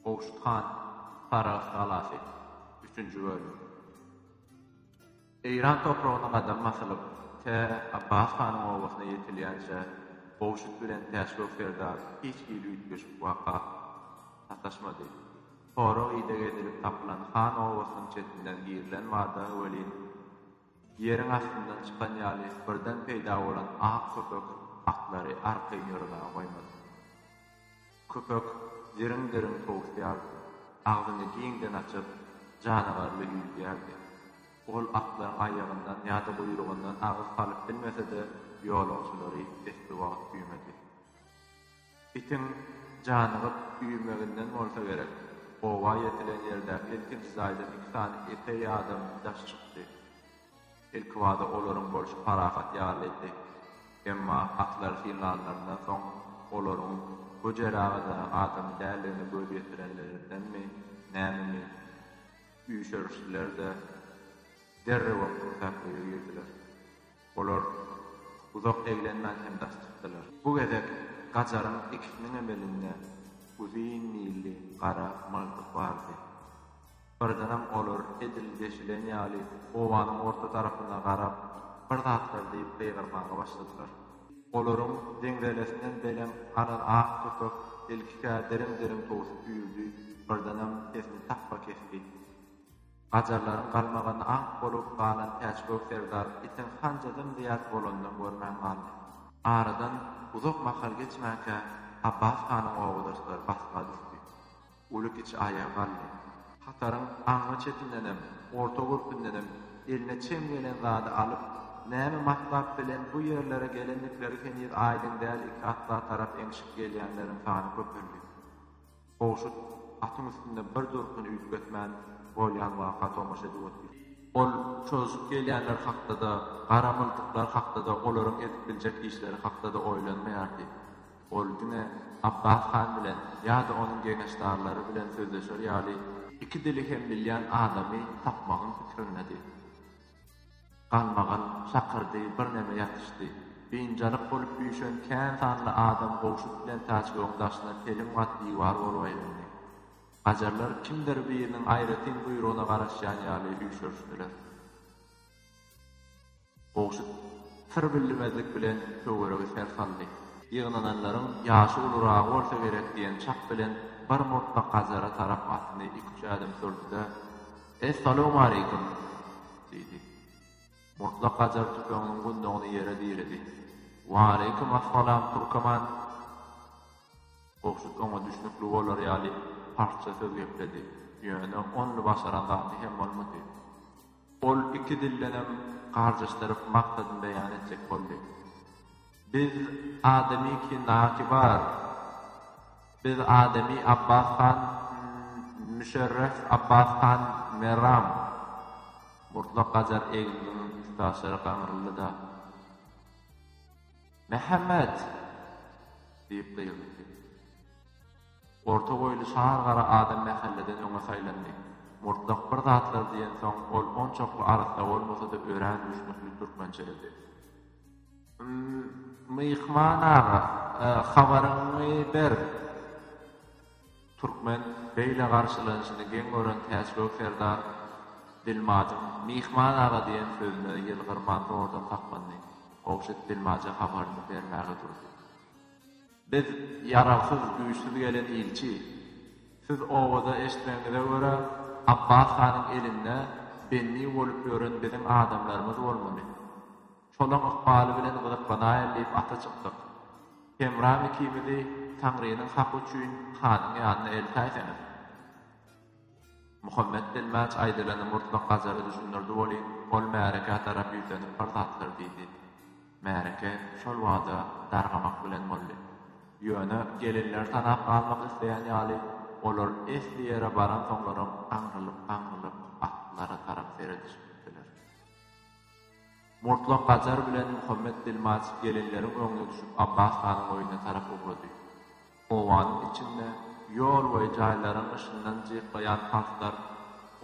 Gowşut han, Sarahs galasy, üçünji bölüm. Eýran topragyna gadam basylyp, tä Abbas hanyň obasyna ýetilýänçä Gowşut bilen Täçgök serdar hiç hili üýtgeşik waka sataşmady. Sorag-ideg edilip tapylan han obasynyň çetinden girilen bada welin, Ýeriň astyndan çykan ýaly birden peýda bolan ak köpek atlary arkaýyn ýöremäge goýmady. Köpek diriň-diriň towusýardy, agzyny giňden açyp, janagarly üýüdýärdi. Ol atlaryň aýagyndan ýa-da guýrugyndan agyz salyp bilmese-de, ýolagçylary esli wagt güýmedi. Itiň janygyp üýümeginden bolsa gerek, oba ýetilen ýerde ilkinji jaýdan iki sany epeý adam daş çykdy. Ilkibada olaryň bolşy parahat ýalydy. Emma atlary synlanlaryndan soň olaryň Höjer agada adam däldigine göz ýetirenlerindenmi, nämemi, üýşerişdiler-de, derrewem pursatlygýa girdiler. Olar uzak eglenmän hem daş çykdylar. Bu gezek Gajaryň ikisiniňem elinde uzyn milli gara mygdyk bardy. Birdenem olar edil deşilen ýaly obanyň orta tarapyna garap, bir zatlar diýip gygyrmaga başladylar. Olaryň deňzelesinden belem alan ak köpek ilkikä diriň-diriň towsup üýrdi, birdenem sesini tapba kesdi. Gajarlaryň galmagany ak bolup galan Täçgök serdar itiň hanja dym-dyýas bolanynam görmän galdy. Aradan uzak mahal geçmänkä Abbas hanyň oba daşlary basga düşdi. Uly-kiçi aýaga galdy. Hataryň aňry çetindenem, orta gürpündenem eline çem gelen zady alyp, näme matlap bilen bu ýerlere gelendikleri heniz aýdyň däl iki atla tarap eňşip gelýänleriň sany köpeldi. Gowşut atyň üstünde bir durkun üýtgetmän, bolýan waka tomaşa edip otyrdy. Ol çozup gelýänler hakda-da, gara myltyklar hakda-da, olaryň edip biljek işleri hakda-da oýlanmaýardy. Ol diňe Abbas han bilen ýa-da onuň geňeşdarlary bilen sözleşer ýaly, iki dili hem bilýän adamy tapmagyň pikirindedir. Galmagal şakyrdy, birneme ýatyşdy. Biynjalyk bolup üýşen kän sanly adam gowşut bilen Täçgögüň daşyna telim gat diwar bolup aýlandy. Gajarlar kimdir biriniň aýratyn buýrugyna garaşýan ýaly üýşerişdiler. Gowşut syr billimezlik bilen töweregi ser saldy. Ýygnananlaryň ýaşy uluragy bolsa gerek diýen çak bilen bir murtlak gajara tarap atyny iki-üç ädim sürdi-de. Essalawmaleýkim! diýdi. Murtla Kajar tüpeňiniň gundagyny ýere diredi. Waleýkim assalam, türkeman! Gowşut oňa düşnükli bolar ýaly parsça söz gepledi, ýöne only başaran zady hem bolmady. Ol iki dildenem garjaşdyryp maksadyny beýan etjek boldy. Biz adamy ki naki bar. Biz adamy Abbas han Müşerref Abbas han Merram. Murtlak Gajar Egniniň üstaşyry gaňryldy-da. Mähemmet! diýip gygyrdy. Orta boýly şar gara adam mähelleden öňe saýlandy. Murtlak bir zatlar diýensoň, ol onçakly arassa bolmasa-da örän düşnükli türkmençeledi. Myhman aga, habaryňy ber! Türkmen beýle garşylanyşyny geň gören Täçgök serdar dilmajyň Myhman aga diýen sözüne ýylgyrman zordan saklandy. Gowşut dilmaja habaryny bermäge durdy. Biz ýaragsyz, güýçsüz gelen ilçi. Siz owaza eşitmegiňize görä, Abbas hanyň elinde bendi bolup ýören biziň adamlarymyz bolmaly. Şolaň ykbaly bilen gyzyklanaýyn diýip ata çykdyk. Hemram ikimizi Taňrynyň haky üçin hanyň ýanyna eltäýseňiz. Muhammet Dilmaç aýdylany murtla Gazara düşündirdi welin, ol märekä tarap ýüzlenip bir zatlar diýdi. Märeke şol bada dargamak bilen boldy. Ýöne gelinler tanap galmak isleýän ýaly, olar esli ýere baransoňlaram aňrylyp-aňrylyp atlara tarap seredişip gitdiler. Murtla Gajar bilen Muhammet Dilmaç gelinleriň öňüne düşüp Abbas hanyň öýüne tarap ugrady. Obanyň içinde ýol we jaýlaryň yşyndan jyrkaýan parslar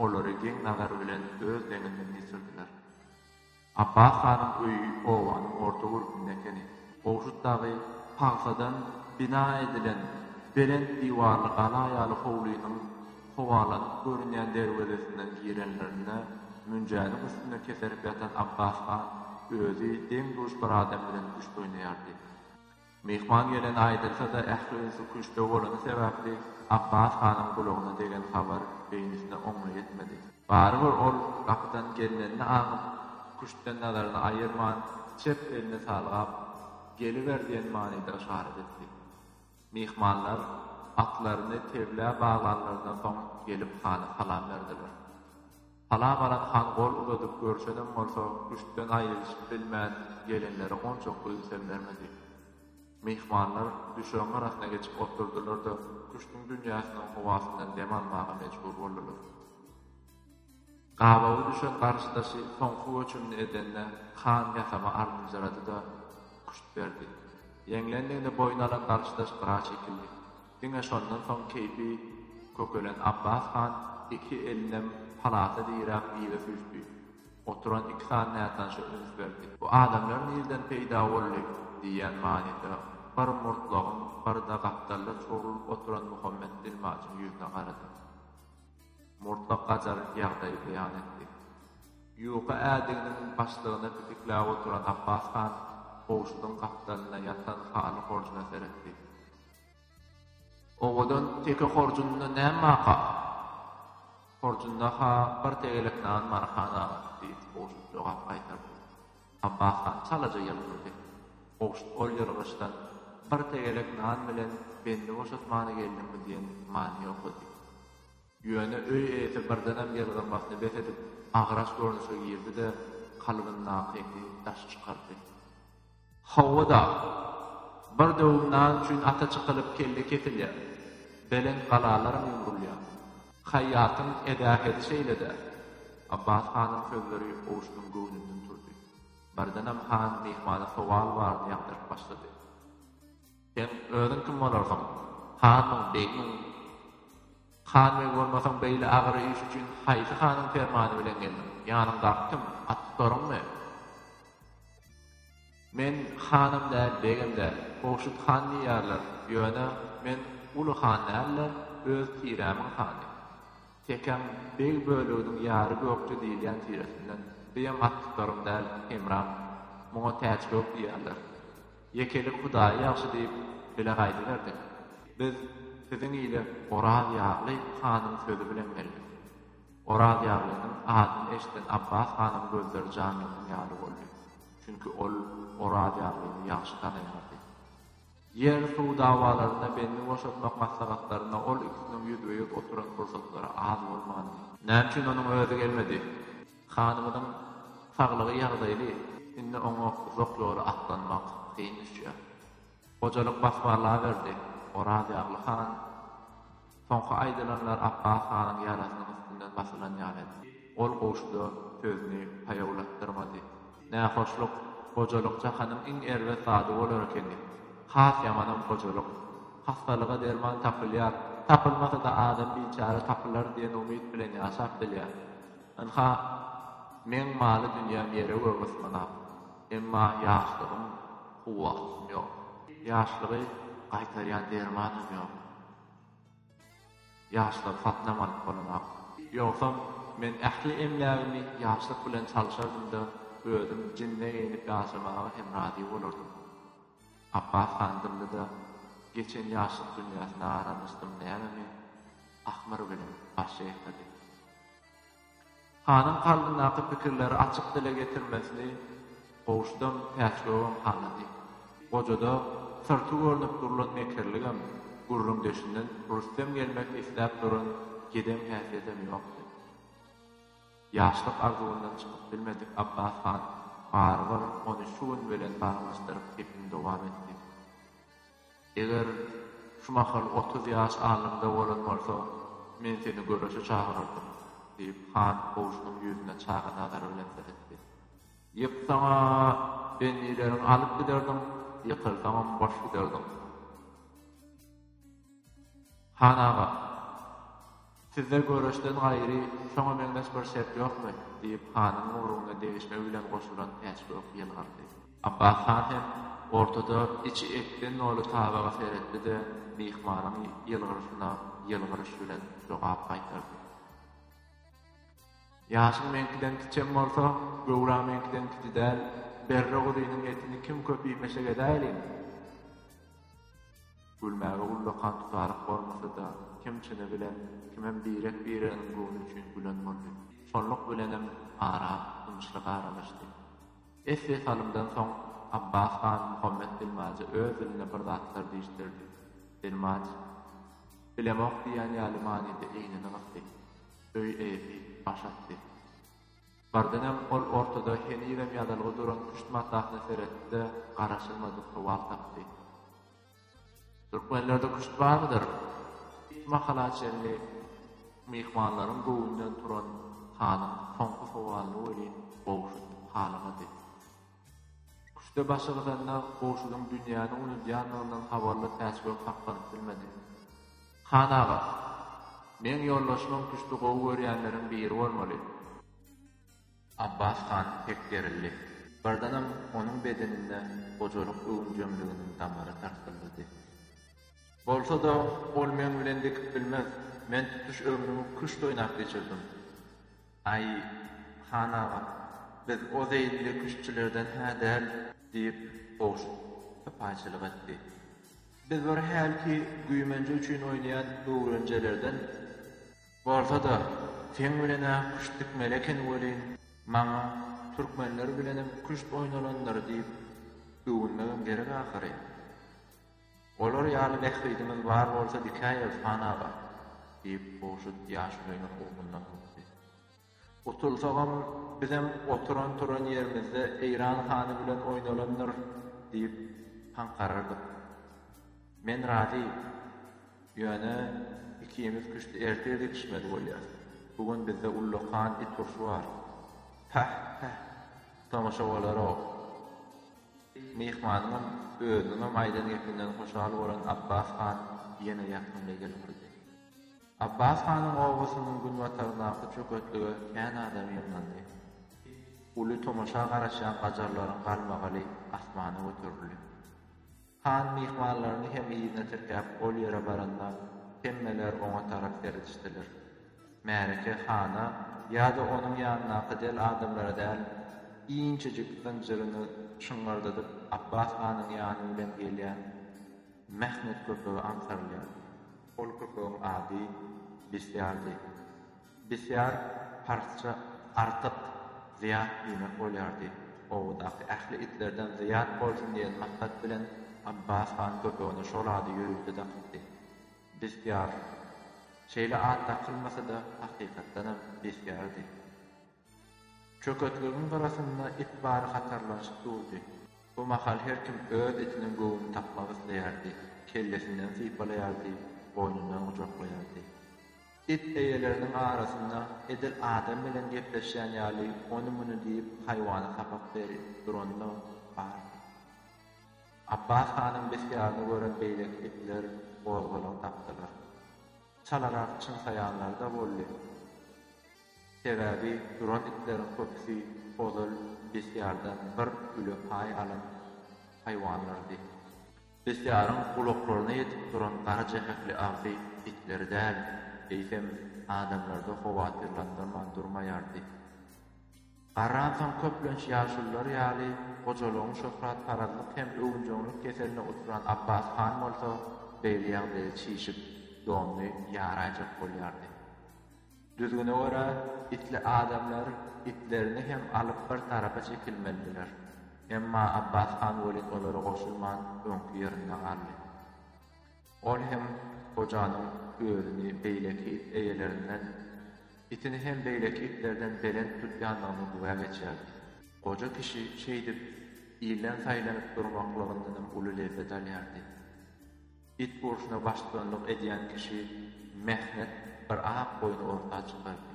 olary geň nazar bilen öz deňinden geçirdiler. Abbas hanyň öýi obanyň orta gürpünde ekeni. Gowşut dagy pagsadan bina edilen belent diwarly gala ýaly howlynyň howalanyp görünýän derwezesinden girenlerinde münjäniň üstünde keserip ýatan Abbas han özi deň-duş bir adam bilen küşt oýnaýardy. Myhman geleni aýdylsa-da, ähli ünsüň küştde bolany sebäpli, Apbas hanyň gulagyna degen habar beýnisine oňly ýetmedi. Barybir ol gapydan gelnenini aňyp, küştden nazaryny aýyrman, çep elini salgap, Geliber diýen manyda yşarat etdi. Myhmanlar atlaryny teblä baglanlaryndan soň gelip hana salam berdiler. Sala baran han gol uzadyp görşenem bolsa, küştden aýrylyşyp bilmän, gelinlere onçakly ünsem bermedi. Myhmanlar düşegiň arasyna geçip otyrdylar-da, küştüň dünýäsiniň howasyndan dem almaga mejbur boldular. Gabawy düşen garşydaşy soňky göçümini edende, han ýasama alynjyrady-da, küşt berdi. Ýeňlendigini boýun alan garşydaş gyra çekildi. Diňe şondan soň keýpi kökelen Abbas han iki elinem palata diräp yza süýşdi. Oturan iki sany nätanyşa üns berdi. Bu adamlar nirden peýda boldy? diýýän manyda bir murtlagyň birde gapdalda çogrulyp oturan Muhammet dilmaçyň ýüzüne garady. Murtlak gajaryp ýagdaýy beýan etdi. Ýuka ädiginiň başlygyna pitikläp oturan Abbas han kowşudyň gapdalynda ýatan haly horjuna seretdi. Owadan teke horjunynda näme baka? Horjunda-ha bir tegelek nan bar, han aga, diýip, Gowşut jogap gaýtardy. Abbas han çalaja ýylgyrdy. Gowşut ol ýylgyryşdan bir tegelek nan bilen bendi boşatmany geldiňmi diýen manyny okady. Ýöne öý eýesi birdenem ýylgyrmasyny bes edip, agyraç görnüşe girdi-de, kalbyndakyny daş çykardy. Hawa-da, bir döwüm nan üçin ata çykylyp kelle kesilýär, belent galalaram ýumrulýar. Haýýatyň edähedi şeýle-dä. Abbas hanyň sözleri Owuşynyň göwnünden turdy. Birdenem han myhmana sowal baryny ýagdaryp başlady. Sen özüň kim bolarsyň? Hanmyň, begmiň? Han, beg bolmasaň, beýle agyr iş üçin haýsy hanyň permany bilen geldiň? Ýanyňdaky kim? Atlylaryňmy? Men hanam däl, begem däl. Gowşut han diýýärler. Ýöne men uly han dälde, öz tirämiň hany. Tekäm beg böleginiň ýary Gökje diýilýän tiresinden. Bijem atlyklarym däl, Hemram. Muňa Täçgök diýýärler. Ýekelik Hudaýy ýagşy diýip, bile gaýdyberdi. Biz siziň ile Oraz Ýagly hanyň sözi bilen geldik. Oraz Ýaglynyň adyny eşiden Abbas hanyň gözleri janlanan ýaly boldy. Çünki ol Oraz Ýaglyny ýagşy tanaýardy. Ýer-suw dawalarynda bendi boşatmak maslahatlarynda ol ikisiniň ýüzbe-ýüz oturan pursatlary az bolmandy. Näme üçin onuň özi gelmedi? Hanymyzyň saglygy ýagdaýly, indi oňa uzak ýoly atlanmak kyn düşýär. Gojalyk basbarlaberdi, Orazýagly han, Soňky aýdylanlar Apbas hanyň ýarasynyň üstünden basylan ýaly edi. Ol goşuda sözüni paýawlatdyrmady. Nähoşluk, gojalyk jahanyň iň erbet zady bolar ekeni. Has ýamanam gojalyk. Hassalyga derman tapylýar, tapylmasa-da adam biçäre tapylar diýen umyt bilen ýaşap bilýär. Ynha, meň maly-dünýäm ýere-göge ysmanak, emma ýaşlygym, kuwwatym ýok. Ýaşlygy gaýtarýan dermanam ýok. Ýaşlygy satynam alyp bolanok. Ýogsam, men ähli emlägimi ýaşlyk bilen çalyşardym-da, özüm jinne geýnip ýaşamaga hem razy bolardym. Apbas han dymdy-da, Geçen ýaşlyk dünýäsine aralanyşdym, nämemi? Ahmyr bilen baş çeýkedi. Hanyň kalbyndaky pikirleri açyk dile getirmesini Gowuşdan Täçgöwün halady. Gojada syrty görnüp durlan mekirligem, gürrüňdeşinden rüstem gelmek isläp duran gedem häsiýetem ýokdy. Ýaşlyk arzuwyndan çykyp bilmedik Abbas han barybir ony şu gün bilen baglanyşdyryp gepini dowam etdi. Eger şu mahal otuz ýaş alnymda bolan bolsaň, men seni göreşe çagyrardym, diýip, han goşunyň ýüzüne çaga nazary bilen seretdi. Ýyk saňa bendileriňi alyp giderdiň, ýykylsaňam boş giderdiň. Han aga, Sizde göreçden gaýry şoňa meňzeş bir şert ýokmy? diýip, hanyň owrugyna degişmek bilen goşulan Täçgök ýylgyrdy. Abbas han hem ortada içi etden doly tabaga seretdi-de, myhmanyň ýylgyryşyna ýylgyryş bilen jogap gaýtardy. Ýaşyň meňkiden kiçem bolsa, göwräň meňkiden kiçi däl, berre guzynyň etini kim köp iýmeşek edäýlin? Gülmäge ullakan tutaryk bolmasa-da, kim çyny bilen, kimem birek-bireginiň göwni üçin gülen boldy. Şonluk bilenem ara ýumuşlyk aralaşdy. Esli salymdan soň Abbas han Muhammet dilmaja öz dilinde bir zatlar diýişdirdi. Dilmaj, Bilemok diýýän ýaly manyda egnini gysdy. Öý eýesi baş atdy. Bardenhem ol ortada henizem ýadalga duran küşt matasyna seretdi-de, garaşylmadyk sowal tapdy. Türkmenlerde küşt barmydyr? Şu mahala çenli myhmanlaryň göwnünden turan hanyň soňky sowalyny welin gowşudyp halamady. Küşde başy gyzanda Gowşudyň dünýäni unudýandygyndan habarly Täçgök sakganyp bilmedi. Han aga, meň ýoldaşymam küşdi gowy görýänleriň biri bolmaly. Abbas han pek gerildi. Birdenem onuň bedeninde gojalyk öwünjeňliginiň damary tarsyldady. Bolsa-da, ol meň bilen dikip bilmez. Men tutuş ömrümi küşt oýnap geçirdim. Aý, han aga, biz o zeýilli küştçülerden hä däl, diýip, Goş sypaýçylyk etdi. Biz bir hälki güýmenje üçin oýnaýan öwrenjelerden. Bolsa-da, seň bilen-ä küşt dikmeli eken welin, maňa türkmenler bilenem küşt oýnalandyr diýip öwünmegem gerek ahyry. Olar ýaly bähbidimiz bar bolsa dikäýeris hanaga, diýip, Gowşut ýaşulynyň ugruny bukdy. Utulsagam, bizem oturan-turan ýerimizde Eýran hany bilen oýnalandyr, diýip, haňkarardyk. Men razy. Ýöne ikimiz küşti ertir dikişmeli bolýas. Bu gün bizde ullakan it urşy bar. Päh, päh, tomaşa bolar-ow. Myhmanyňam, özüniňem aýdan gepinden hoşal bolan Abbas han ýene ýakymly ýyl urdy. Abbas hanyň obasynyň günbataryndaky çöketlige kän adam ýygnandy. Uly tomaşa garaşýan gajarlaryň galmagaly asmana göterildi. Han myhmanlaryny hem yzyna tirkäp ol ýere baranda, hemmeler oňa tarap seredişdiler. Märeke hana ýa-da onuň ýanyndaky del adamlara däl, inçejik zynjyryny şyňňyrdadyp Apbas hanyň ýany bilen gelýän Mehnet köpege aňtarylýar. Ol köpegiň ady Bisýardy. Bisýar parsça artyk, zyýat diýmek bolýardy. Obadaky ähli itlerden zyýat bolsun diýen maksat bilen Apbas han köpegine şol ady ýörite dakypdy. Bestiar. Şeýle at dakylmasa-da, hakykatdanam bestiardy. Çöketligiň gyrasynda it bary hatarlanyşyp durdy. Bu mahal her kim öz itiniň göwnüni tapmak isleýärdi, kellesinden sypalaýardy, boýnundan gujaklaýardy. It eýeleriniň arasynda edil adam bilen gepleşýän ýaly ony-muny diýip haýwana sapak berip duranlar bardy. Apbas hanyň bisgärini gören beýleki itler gozgalaň tapdylar. Çalarak çyňsaýanlar-da boldy. Sebäbi duran itleriň köpüsi ozal bisgärden bir güle paý alan haýwanlardy. Bisgäriň gulaklaryna ýetip duran gara jähekli agzy itleri däl, eýsem, adamlary-da howatyrlandyrman durmaýardy. Garransaň köplenç ýaşulular ýaly hojalygyň şöhratparazlyk hem öwünjeňlik keseline uturan Abbas han bolsa beýle ýagdaýa çişip, donuny ýaraýjak bolýardy. Düzgüne görä, itli adamlar itlerini hem alyp bir tarapa çekilmelidiler. Emma Abbas han welin olara goşulman, öňki ýerinde galdy. Ol hem gojanyň özüni beýleki it eýelerinden, itini hem beýleki itlerden belent tutýandygyny güwä geçýärdi. Goja kişi şeýdip, ilden saýlanyp durmaklygyndanam uly lezzet alýardy. It urşuna baştutanlyk edýän kişi Mehnet bir ak goýny orta çykardy.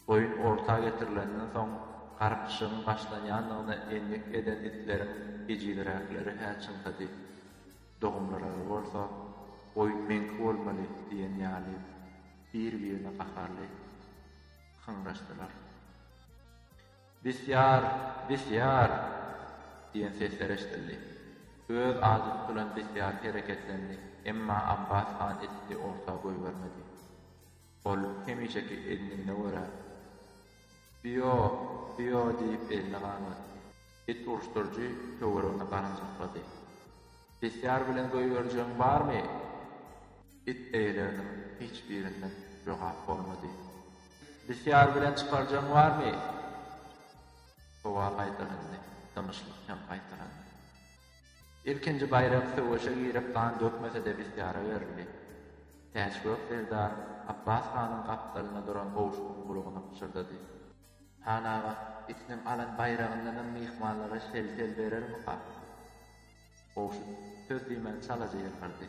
Goýun orta getirilenden soň, garpyşygyň başlanýandygyna endik eden itleriň ejizräkleri-hä çyňsady. Dogumlarymyz bolsa, Goý, meňki bolmaly diýen ýaly, bir-birine gaharly hyňraşdylar. Bisýar! Bisýar! diýen sesler eşidildi. Öz ady tutulan Bisýar hereketlendi, emma Abbas han itdi orta goýbermedi. Ol hemişeki ednigine görä, Bio! Bio! diýip elini gaýmatdy. It uruşdyryjy töweregine garanjaklady. Bisýar bilen goýberjegiň barmy? It eýeleriniň hiç birinden jogap bolmady. Bisýar bilen çykarjagyň barmy? Sowal gaýtalandy. Dymyşlyk hem gaýtalandy. Ilkinji baýrak söweşe girip gan dökmese-de Bisýara berildi. Täçgök serdar Apbas hanyň gapdalynda duran gowşugyň gulagna pyşyrdady. Hanaga, itiniň alan baýragyndanam myhmanlara şel-şel berermika? Gowşut söz diýmän çalaja ýylgyrdy.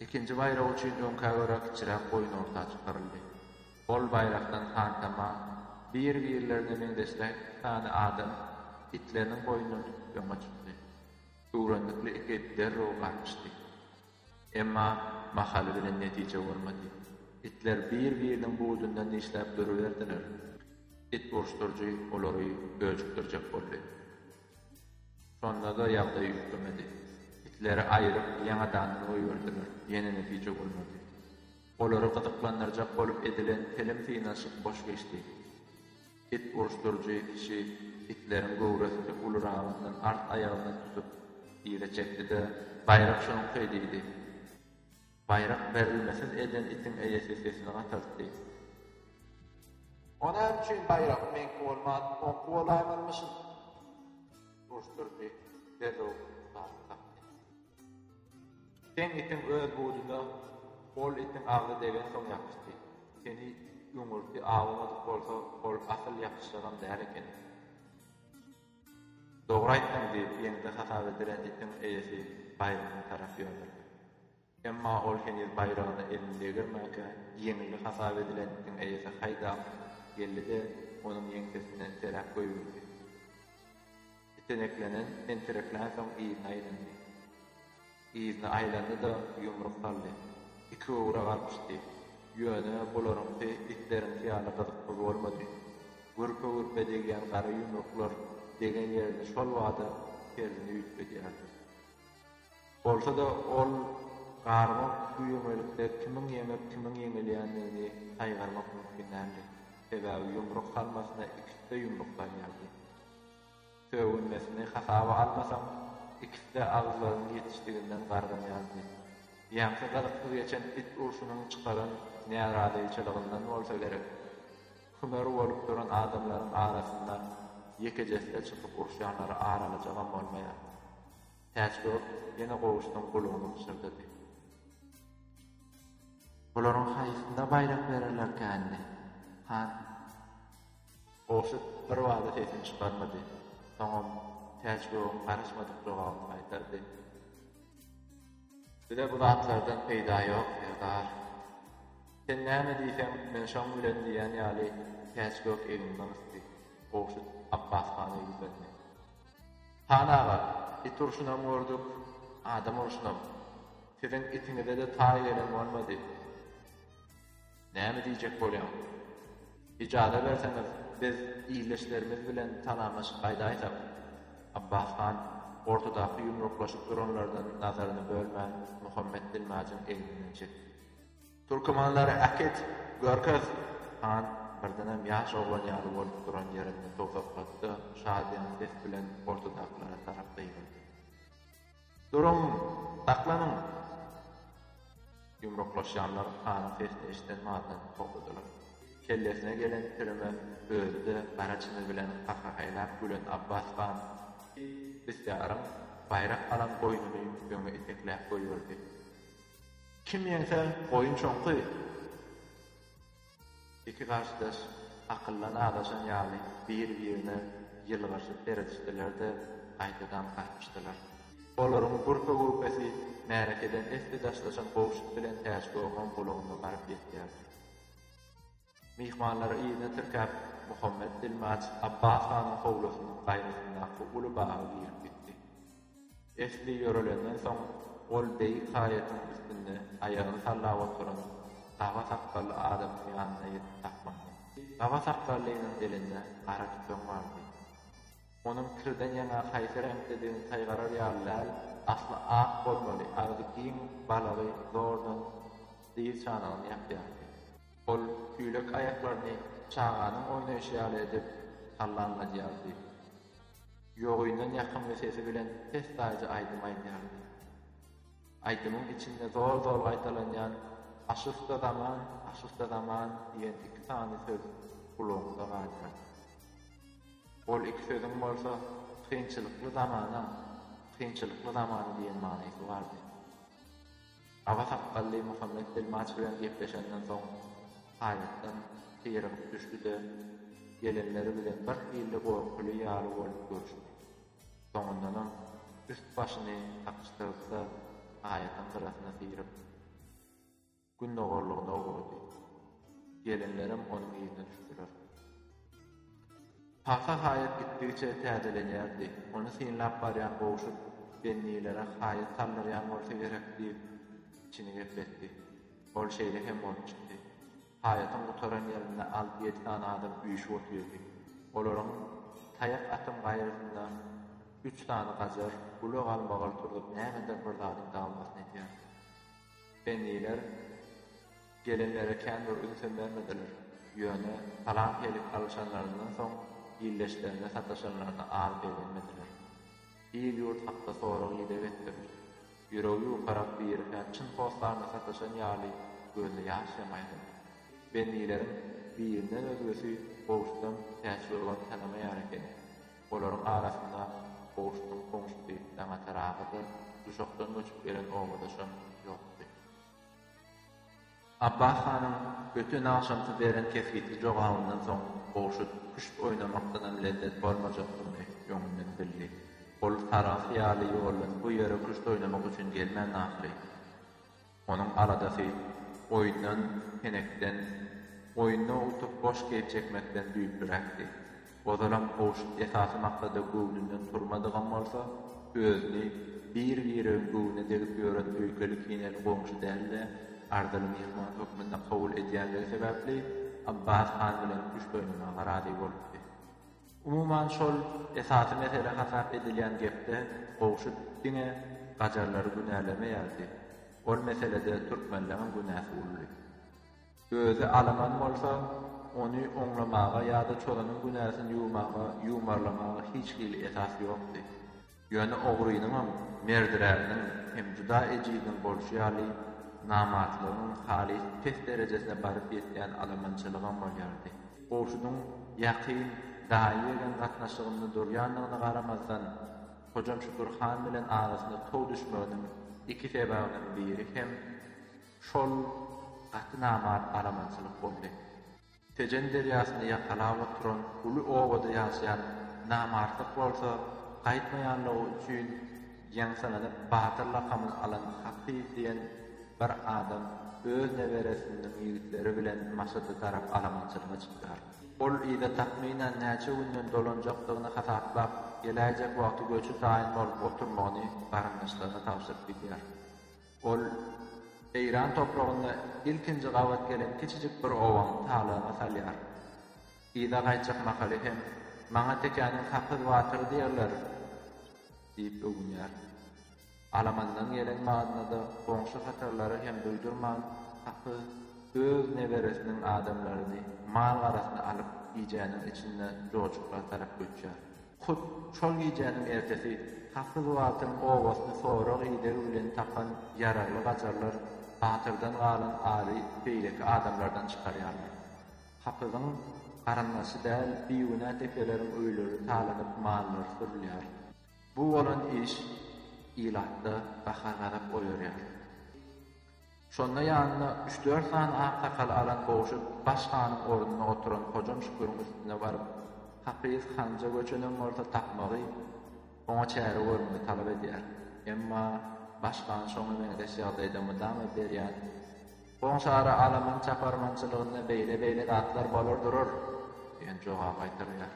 Ikinji baýrak üçin öňkä görä kiçiräk goýun orta çykyryldy. Ol baýrakdan hantama, bir-birlerine meňzeşräk iki sany adam itleriniň boýundan tutup öňe çykdy. Öwrendikli iki it derrew garpyşdy. Emma mahaly bilen netije bolmady. Itler bir-biriniň budundan dişläp duruberdiler. It uruşdyryjy olary öjükdirjek boldy. Şonda-da ýagdaý üýtgemedi. Itleri aýryp, ýaňadandan goýberdiler. Ýene netije bolmady. Olary gyzyklandyrjak bolup edilen telim synanyşyk boş geçdi. It uruşdyryjy kişi itleriň göwresini uluragyndan art aýagyndan tutup, yza çekdi-de, Baýrak şoňky! diýdi. Baýrak berilmesiz eden itiň eýesi sesini gataltdy. O näme üçin baýrak meňki bolman, oňky bolaýmazmyşyn? Uruşdyryjy derrew baryp bakdy. Sen itiň öz bujuda ol itiň agzy degensoň ýapyşdy. Seni öňürti awamadyk bolsa ol asyl ýapyşjagam däl ekeni. Dogry aýtdyň diýip ýeňse hasap edilen itiň eýesi baýragyna tarap ýöneldi. Emma ol heniz baýragyna elini degirmänkä ýeňildi hasap edilen itiň eýesi haýdap geldi-de onuň ýeňsesine seräp goýberdi. Iteneklenen, tentereklänsoň yzyna aýlandy. Yzyna aýlandy-da, ýumruk saldy. Iki ugra garpyşdy. Ýöne bularyňky itleriňki ýaly gyzykly bolmady. Gürpe-gürpe degýän gara ýumruklar degen ýerinde şol bada terzini üýtgedýärdi. Bolsa-da, ol garmak bu ýöňelikde kimiň ýeňip, kimiň ýeňilýändigini saýgarmak mümkin däldi. Sebäbi ýumruk salmasyna ikisi-de ýumruk salýardy. Sögünmesini hasaba almasaň, ikisi-de agyzlarynyň ýetişdiginden gargynýardy. Ýaňsa gyzyksyz geçen it urşunyň çykaran närazyçylygyndan bolsa gerek, kümer bolup duran adamlaryň arasynda ýekejesi-de çykyp urşýanlary aralyjagam bolmaýardy. Täçgök ýene gowuşdan gulagyny pyşyrdady. Bularyň haýsysyna baýrak bererlerkändi, han? Goşut birbada sesini çykarmady. Soňam Täçgöwün garaşmadyk jogabyny gaýtardy. Bize bu zatlardan peýda ýok, serdar. Sen näme diýseň, men şoň bilen diýen ýaly Täçgök egninden ysdy. Goşut Apbas hana ýüzlendi. Han aga, it urşunam gördük, adam urşunam. Siziň itiňize-de taý gelen bolmady. Näme diýjek bolýaň? Ijaza berseňiz, biz ildeşlerimiz bilen salamlaşyp gaýdaýsak? Abbas han ortadaky ýumruklaşyp duranlardan nazaryny bölmän, Muhammet dilmajyň egninden çekdi. Türkmenleri äkit, görkez! Han birdenem ýaş oglan ýaly bolup duran ýerinde towsaklady-da, şadyýan ses bilen ortadakylara tarap gygyrdy. Duruň! Saklanyň! Ýumruklaşýanlar hanyň sesini eşiden mahaldan togtadylar. Kellesine gelen pirime özi-de gara çyny bilen gahgahaýlap gülen Abbas han bisýaryň baýrak alan goýnuny öňe itekläp goýberdi. Kim ýeňse, goýun çoňky! Iki garşydaş akyldan azaşan ýaly biri-birine ýylgyryşyp seredişdiler-de, gaýtadan garpyşdylar. Olaryň gürpe-gürpesi märekeden esli daşlaşan gowşut bilen Täçgöwheriň gulagyna baryp ýetýärdi. Myhmanlary yzyna tirkäp, Muhammet Dilmaç Abbas hanyň howlusynyň gaýrasyndaky uly baga girip gitdi. Esli ýörelenden soň, ol beýik haýatyň üstünde aýagyny sallap oturan gaba sakgally adamyň ýanyna ýetip saklandy. Gaba sakgallynyň elinde gara tüpeň bardy. Onuň kirden ýaňa haýsy reňkdedigini saýgarar ýaly däl, asly ak bolmaly, agzy giň balagy zordan dyz çanagyny ýapýardy. Ol tüýlek aýaklaryny çaganyň oýnaýşy ýaly edip sallanladýardy. Ýogyndan ýakymly sesi bilen pes taýda aýdym aýdýardy. Aýdymyň içinde zol-zol gaýtalanýan Aşysta zaman, aşysta zaman diýen iki sany söz gulaňda galýardy. Ol iki sözüň bolsa kynçylykly zamana, kynçylykly zaman diýen manysy bardy. Aga sakgally Muhammet Dilmaç bilen gepleşenden soň, haýbatdan syrygyp düşdi-de, gelenleri bilen birhili gorkuly ýaly bolup görüşdi. Soňundanam üst-başyny gakyşdyryp-da, aýatyň gyrasyna syryp, gündogarlygyna ugrady. Gelenlerem onuň yzyna düşdüler. Pagsa haýat gitdigiçe täzelenýärdi. Ony synlap barýan gowşut bennilere haýat saldyrýan bolsa gerek diýip, içini gepletdi. Ol şeýle hem bolup çykdy. Haýatyň gutaran ýerinde alty-ýedi sany adam üýşüp otyrdy. Olaryň taýak atan gaýrasynda üç sany gajar uly galmagal turzup nämedir bir zadyň dawamasyny edýärdi. Benniler. Gelenlere kän bir ünsem bermediler. Ýöne salam helik alyşanlaryndan soň ildeşlerine sataşanlaryna az begenmediler. Il-ýurt hakda sorag-ideg etdiler. Ýüregi ýukarak biri-hä çyn hossarna sataşan ýaly gözüne ýaş hem aýlady. Bennileriň birinden özgesi Gowşudan Täçgöwün tanamaýar ekeni. Olaryň arasynda Gowşunyň goňşusy Daňatar aga-da, Duşakdan göçüp gelen obadaşam ýokdy. Apbah hanyň öten agşamky beren kesgitli jogabyndan soň Gowşut küşt oýnamakdanam lezzet bolmajakdygyny öňünden bildi. Ol sarahs ýaly ýoldan bu ýere küşt oýnamak üçin gelmändi ahyry. Onuň aladasy oýundan, senekden, oýunda utup boş keýp çekmekden düýplüräkdi. Ozalam gowşut esasy maksada göwnünden turmadygam bolsa, özüni bir-biregiň göwnüne degip ýören öýkeli-kineli goňşy däl-de, arzyly myhman hökmünde kabul edýändigi sebäpli Abbas han bilen küşt oýnamaga razy bolupdy. Umuman, şol esasy mesele hasap edilýän gepde gowşut diňe gajarlary günälemeýärdi. Ol meselede türkmenleňem günäsi ulydy. Özi alaman bolsa, ony oňlamaga ýa-da çozanyň günäsini ýuwmaga, ýumarlamaga hiç hili esas ýokdy. Ýöne ogrynyňam, merdiräniň hem juda ejiziň bolşy ýaly, namartlygyň halys pes derejesine baryp ýetýän alamançylygam bolýardy. Gowşudyň ýakyn daýy-ýegen gatnaşygynda durýandygyna garamazdan, Hojam Şükür han bilen arasyna tow düşmeginiň iki sebäbiniň biri hem, Şol gaty namart alamançylyk boldy. Tejen derýasyny ýakalap oturan uly obada ýaşaýan namartlyk bolsa gaýtmaýanlygy üçin ýaňsylanyp batyr lakamyny alan Hakyz diýen bir adam öz neberesiniň ýigitleri bilen Maşada tarap alamançylyga çykýar. Ol yza takmynan näçe günden dolanjakdygyny hasaplap, geläýjek wagty göçi taýyn bolup oturmagyny garyndaşlaryna tabşyryp gidýär. Ol Eýran topragynda ilkinji gabat gelen kiçijik bir obaň talagyny salýar. Yza gaýtjak mahaly hem, Maňa tekäniň sakyz batyry diýerler! diýip öwünýär. Alamandan gelen maznada goňşy hatarlary hem duýdurman, sakyz öz neberesiniň adamlaryny, mal-garasyny alyp, gijäniň içinde joşuklar tarap göçýär. Hut şol gijäniň ertesi Tassy Guwaltyň obasyny sorag idegi bilen tapan ýaragly gajarlar Batyrdan galan ary beýleki adamlardan çykarýarlar. Hapyzyň garyndaşy däl bigünä depeleriň öýleri talanyp mallary sürülýär. Bu bolan iş ilatda gahar-gazap oýarýar. Şonda ýanyna üç-dört sany aksakaly alan Gowşut baş hanyň ornuna oturan Hojam Şüküriň üstüne baryp, Hapyz Hanja göçenem bolsa tapmagy, oňa çäre görmegi talap edýär. Emma baş han şoňa meňzeş ýagdaýda mydama berýän Goňşara alaman çaparmançylygynda beýle-beýle zatlar bolar durur diýen jogaby gaýtarýar.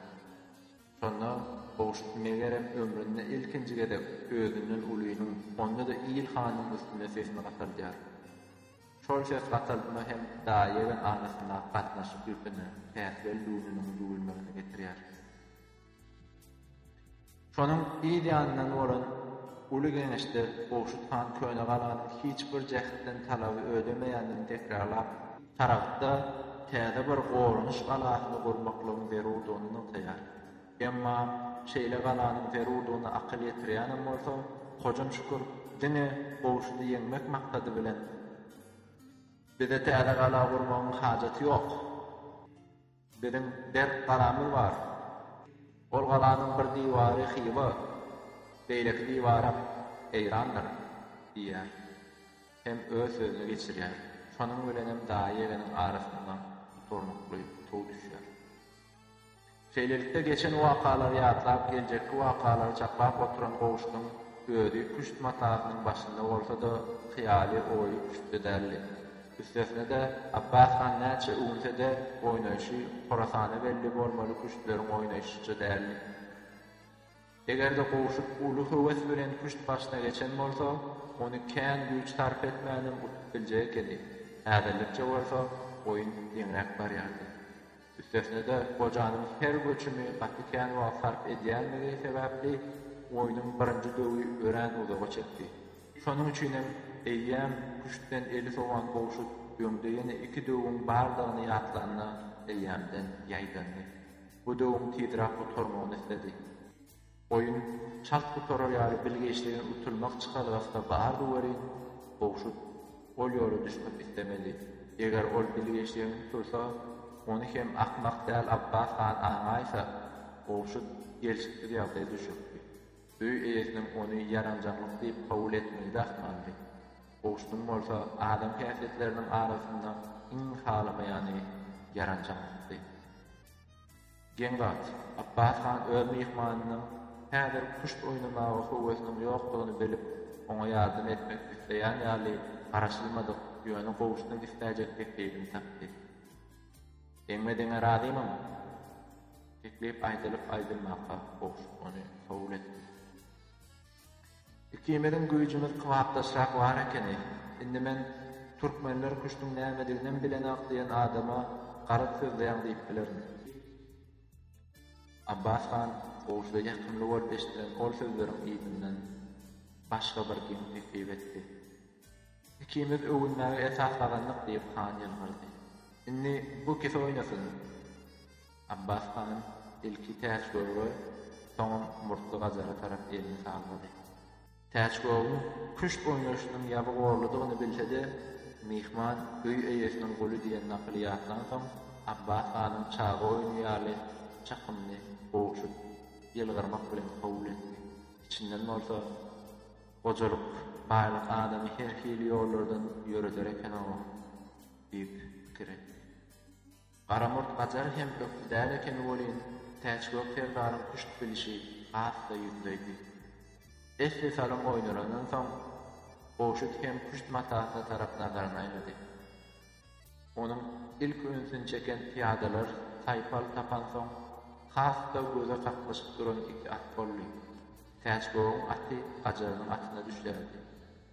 Şonda Howşut megerem ömründe ilkinji gezek özünden ulynyň, onda-da il hanynyň üstüne sesini gataldýar. Şol ses gataltma hem daýy-ýegen arasyndaky gatnaşyk ýüpüne, päsgel düwnüniň düwülmegine getirýär. Şonuň yz ýanyndan bolan Uly geňeşde Howşut han köne galanyň hiç bir jähtden talaby ödemeýändigini tekrarlap, tarapda täze bir goranyş galasyny gurmaklygyň zerurdygyny nygtaýar. Emma şeýle galanyň zerurdygyna akyl ýetirýänem bolsa, Hojam Şükür diňe Gowşudy ýeňmek maksady bilen, Bize täze gala gurmagyň hajaty ýok. Biziň berk galamyz bar. Ol galanyň bir diwary Hywa, beýleki diwaram Eýrandyr, diýýär. Hem öz sözüni geçirýär. Şonuň bilenem daýy-egeňiň arasynda durnukly tuw düşýär. Şeýlelikde, geçen wakalary ýatlap, geljekki wakalary çaklap oturan Gowşudyň özi küşt matasynyň başynda bolsa-da, hyýaly, oýy küştde däldi. Üstesine-de, Abbas han näçe öwünse-de, oýnaýşy Horasana belli bolmaly küştleriň oýnaýşyça däldi. Eger-de gowşut uly höwes bilen küşt başyna geçen bolsa, ony kän güýç sarp etmänem utup biljek ekeni. Häzirlikçe bolsa, oýun deňräk barýardy. Üstesine-de, gojanyň her göçümi gaty kän wagt sarp edýändigi sebäpli, oýnuň birinji döwi örän uzaga çekdi. Şonuň üçin hem eýýäm küştden eli sowan Gowşut öňde ýene iki döwüň bardygyny ýatlanda, eýýämden ýaýdandy. Bu döwüň tizräk gutarmagyny isledi. Oýun çalt gutarar ýaly bilgeşligini utulmak çykalgasy-da bardy welin, Gowşut ol ýola düşmek islemedi. Eger ol bilgeşligini utulsa, ony hem akmak däl Apbas han aňaýsa, Gowşut gelşiksiz ýagdaýa düşerdi. Öý eýesiniň ony ýaranjaňlyk diýip kabul etmegi-de ahmaldy. Gowşudyň bolsa adam häsiýetleriniň arasynda iň halamaýany ýaranjaňlykdy. Geň wagt, Apbas han öz myhmanynyň häzir küşt oýnamaga höwesiniň ýokdugyny bilip, oňa ýardam etmek isleýän ýaly garaşylmadyk, ýöne gowuşmak isläýjek teklibini tapdy. Deňme-deňe razymyň? Teklip aýdylyp-aýdylmaka gowşup ony kabul etdi. Ikimiziň güýjümiz kybapdaşrak bar ekeni. Indi men Türkmenler küşdüň nämediginem bilenok diýen adama garaz sözleýäň diýip bilerin. Abbas han goşda ýakymly bolup eşdilen ol sözleriň yzyndan başga bir geň teklip etdi. Ikimiz öwünmäge esas gazandyk diýip han ýylgyrdy. Indi bu ikisi oýnasyn. Abbas hanym ilki Täçgöwre, soňam Murtly Gajara tarap elini sallady. Täçgöwrüň küşt oýnaşynyň ýaby gorludygyny bilse-de, myhman öý eýesiniň guly diýen nakyly ýatlansoň, Abbas hanym çaga oýny ýaly çykymly gowşut ýylgyrmak bilen kabul etdi. Içinden bolsa, Gojalyk, baýlyk adamy her hili ýollardan ýöreder eken-ow! diýip pikir etdi. Garamurt gajar hem ökde däl ekeni welin, Täçgök serdaryň küşt bilişi has-da ýüzleýdi. Esli salym oýnalandan soň, Goşut hem küşt matasyna tarap nazaryny aýlady. Onuň ilki ünsüni çeken pyýadalar saýpal tapansoň, has-da göze kaklyşyp duran iki at boldy. Täçgögüň aty gajarynyň atyna düşländi.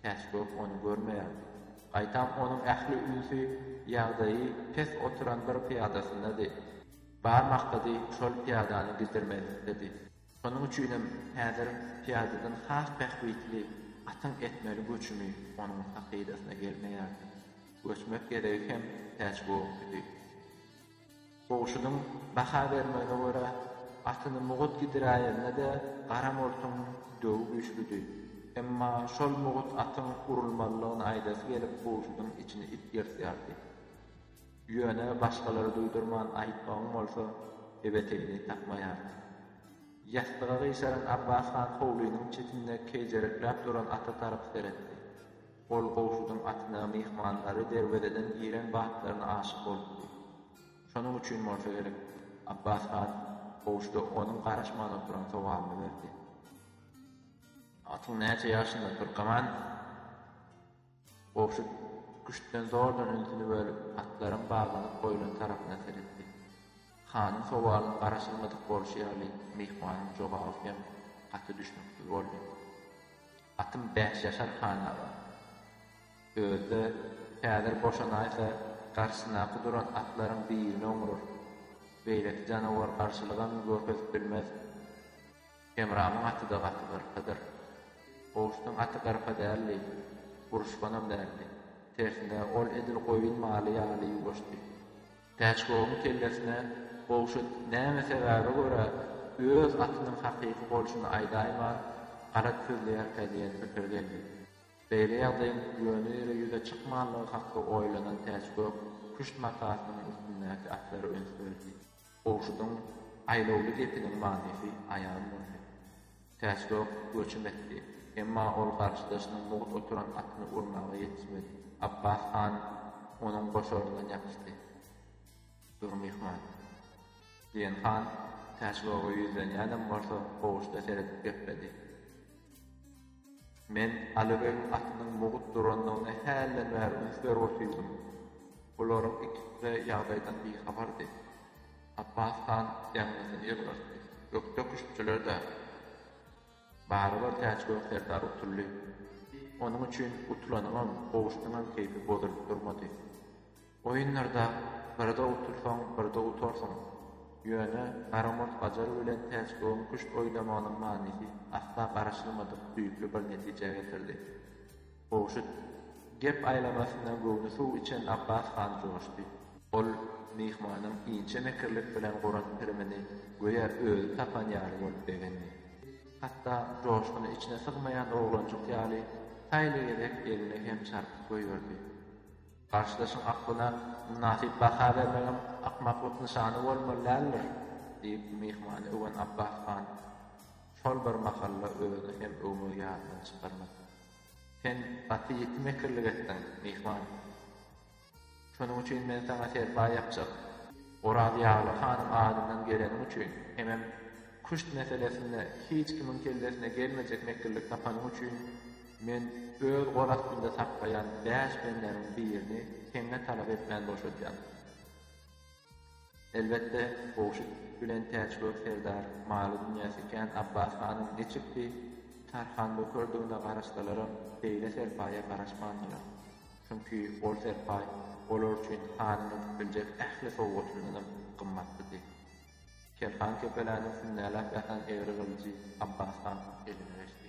Täçgök ony görmeýärdi. Gaýtam onuň ähli ünsi ýagdaýy pes oturan bir pyýadasyndady. Bar maksady şol pyýadany giddirmezlikdedi. Şonuň üçinem häzir pyýadadan has bähbitli atyň etmeli göçümi onuň sahydasyna gelmeýärdi. Göçmek gezegi hem Täçgöküdi. Gowşudyň baha bermegine görä, atyny mugut gidiräýende-de gara murtuň döwi güýçlüdi. Emma şol mugut atyň urulmalydygyny aýdasy gelip gowşudyň içini it ýyrtýardy. Ýöne başgalara duýdurman aýtmagyň bolsa ebetegini tapmaýardy. Ýassyga gyşaran Abbas han howlynyň çetinde keýjerekläp duran ata tarap seretdi. Ol Gowşudyň atyna myhmanlary derwezeden giren batlaryna aşyk bolupdy. Şonuň üçin bolsa gerek, Apbas han Gowşuda onuň garaşman oturan sowalyny berdi. Atyň näçe ýaşynda, Türkeman? Gowşut küştden zordan ünsüni bölüp, atlaryň baglanyp goýlan tarapyna seretdi. Hanyň sowalyna garaşylmadyk bolşy ýaly, myhmanyň jogaby hem gaty düşnüksiz boldy. Atym bäş ýaşar han aga. Özi-de häzir boşanaýsa garşysyndaky duran atlaryň birine oňrar. Beýleki janawar garşylygam görkezip bilmez. Hemramyň aty-da gaty gyrpadyr. Gowşutyň aty gyrpa däldi, uruşganam däldi. Tersine, ol edil goýun maly ýaly ýuwaşdy. Täçgowyň kellesine Gowşut näme sebäbe görä öz atynyň hakyky bolşuny aýdaýman, garaz sözleýärkä diýen pikir geldi. Beýle ýagdaýyň ýöne-ýere ýüze çykmanlygy hakda oýlanan Täçgök küşt matasynyň üstündäki atlary üns berdi. Gowşudyň aýlawly gepiniň manysy aýan boldy. Täçgök göçüm etdi. Emma ol garşydaşynyň mugt oturan atyny urmaga ýetişmedi. Apbas han onuň goşaryndan ýapyşdy. Dur, myhman! diýen han Täçgöge ýüzlenýänem bolsa, gowuşda seredip gepledi. Men Aly begiň atynyň mugt durandygyna hälden bäri üns berip otyrdym. Bularyň ikisi-de ýagdaýdan bihabardy. Apbas han ýaňzysyny ýylgyrtdy. Ökde küştçüler dagy. Barybir Täçgöwün serdar utuldy. Onuň üçin utulanyňam, gowuşdyňam keýpi bozulyp durmady. Oýunlarda birde utulsaň, birde utarsyň. Ýöne Garamurt Gajar bilen Täçgöwün küşt oýnamagynyň manysy asla garaşylmadyk düýpli bir netijä getirdi. Goşut. Gep aýlamasyndan göwni suw içen Apbas han joşdy. Ol myhmanyň inçe mekirlik bilen guran pirimini göýä özi tapan ýaly bolup begendi. Hatda joşguny içine sygmaýan oglanjyk ýaly taýly gezek eline hem çarpyk goýberdi. Garşydaşyň aklyna mynasyp baha bermegem akmaklyk nyşany bolmaly däldir, diýip, myhmany öwen Apbas han şol bir mahalla özüni hem öwmegi ýadydan çykarmady. Sen gaty ýiti mekirlik etdiň, myhman. Şonuň üçin men saňa serpaý ýapjak. Orazýagly hanyň adyndan geleniň üçin hemem küşt meselesinde hiç kimiň kellesine gelmejek mekirlik tapanyň üçin men öz gol astynda saklaýan bäş bendämiň birini seňňe talap etmän boşadýan. Elbetde, Howşut bilen Täçgök serdar maly-dünýäsi kän Abbas hanyň niçiksi Tarhan bökerdigine garaşsalaram, beýle serpaýa garaşmandylar. Çünki ol serpaý olar üçin hanyň edip biljek ähli sowgatyndanam gymmatlydy. Kerhan kepeläniň sünnäläp ýatan egri gylyjy Abbas hanyň eline geçdi.